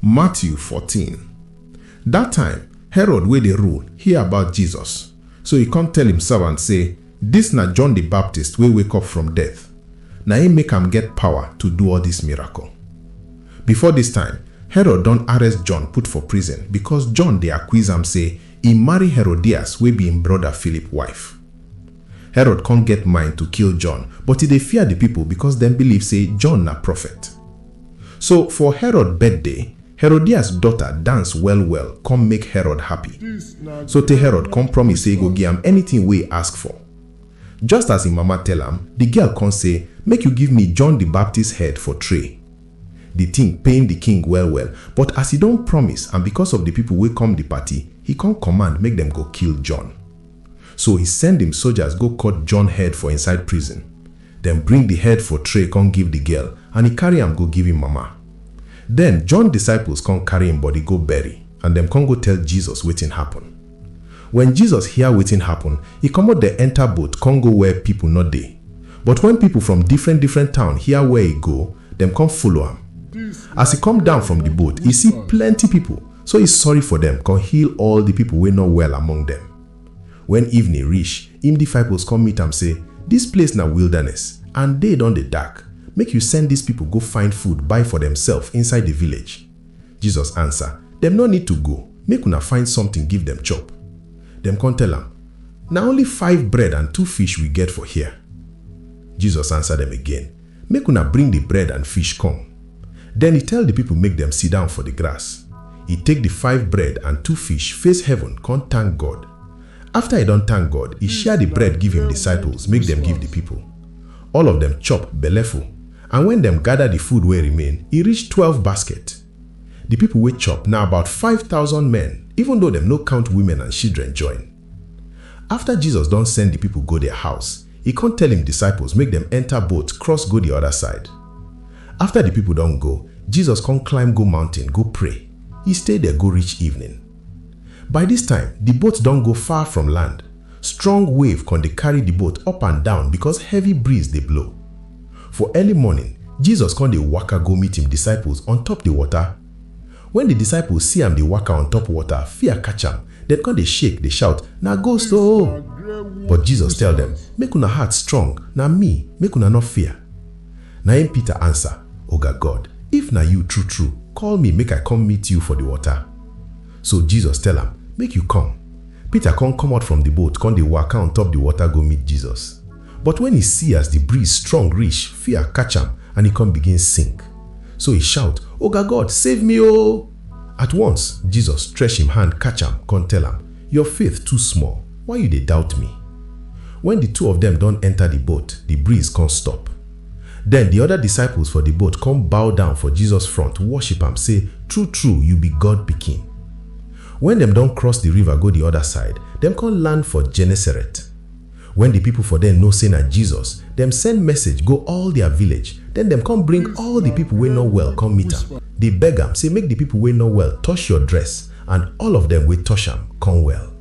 Matthew fourteen. Dat time, Herod wey dey rule hear about Jesus, so e kon tell im servant sey, Dis na John di Baptist wey wake up from death. Na im make am get pawa to do all dis miracle. Before dis time, Herod don arrest John put for prison bikos John dey akwiz am sey e marry Herodias wey bi im broda Philip wife. Herod kon get mind to kill John, but e dey fear di pipol bikos dem biliv sey John na profet. So for Herod birthday, Herodias daughter dance well well come make Herod happy. So tey Herod come promise say e go give am anything wey e ask for. Just as im mama tell am, the girl come say, Make you give me John the Baptist head for tray. The thing pain the king well well, but as e don promise and because of the people wey come the party, he come command make dem go kill John. So he send im soldiers go cut John head for inside prison. Dem bring di head for tray kon give di girl and e karry am go give im mama. Den, John disciples kon karry im body go bury and dem kon go tell Jesus wetin happen. Wen Jesus hear wetin happen, e komot der enter boat kon go where pipol nor dey. But wen pipol from different different town hear where e go, dem kon follow am. As e kom down from di boat, e see plenty pipol, so e sorry for dem kon heal all di pipol wey nor well among dem. Wen evening rish, im difiples kon meet am sey, Dis place na wildanes, and day don dey dark, make yu send dis pipol go find food buy for demself inside di village. Jesus ansa, Dem nor nid to go, make una find sometin give dem chop. Dem kon tell am, Na only five bread and two fish wi get for here. Jesus ansa dem again, Make una bring di bread and fish come. Den e tell di pipol make dem sidown for di grass. E take di five bread and two fish, face heaven, kon tank God. Afta e don tank God, e share di bread give im disciples make dem give di pipol. All of dem chop belleful, and wen dem gada di food wey remain, e reach twelve basket. Di pipol wey chop na about five thousand men, even though dem no count women and shidren join. Afta Jesus don send di pipo go dia house, e kon tell im disciples make dem enta boat cross go di oda side. Afta di pipo don go, Jesus kon climb go mountain go pray. E stay der go reach evening. By dis time, di boat don go far from land. Strong wave kon dey karry di boat up and down bikos heavy breeze dey blow. For early morning, Jesus kon dey waka go meet im disciples on top di wota. Wen di disciples see am dey waka on top wota, fear catch am, dem kon dey shake, dey shout, Na ghost o! But Jesus tell dem, Make una heart strong, na mi, make una nor fear. Na im Peter ansa, Oga God, if na yu tru-tru, koll mi make I kom meet yu for di wota. So Jesus tell am, Make yu kom. Peter kon komot from di boat kon dey waka on top di wota go meet Jesus. But wen e si as di breeze strong rish, fia katch am and e kon bigin sink. So e shaut, Oga God, save mi o! At once, Jesus stretch im hand katch am kon tell am, Yor faith too small, why yu dey doubt mi? Wen di two of dem don enter di boat, di breeze kon stop. Den di oda disciples for di boat kon bow down for Jesus front worship am sey, True-true, yu bi God Pikin. Wen dem don cross di river go di oda side, dem kon land for Genesaret. Wen di pipo for der know sey na Jesus, dem send message go all dia village. Den dem kon bring all di pipo wey nor well kon meet am, dey beg am sey make di pipo wey nor well tosh yor dress, and all of dem wey tosh am kon well.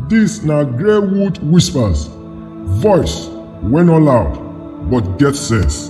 Dis na Greywood Whispers, voice wey no loud but get sense.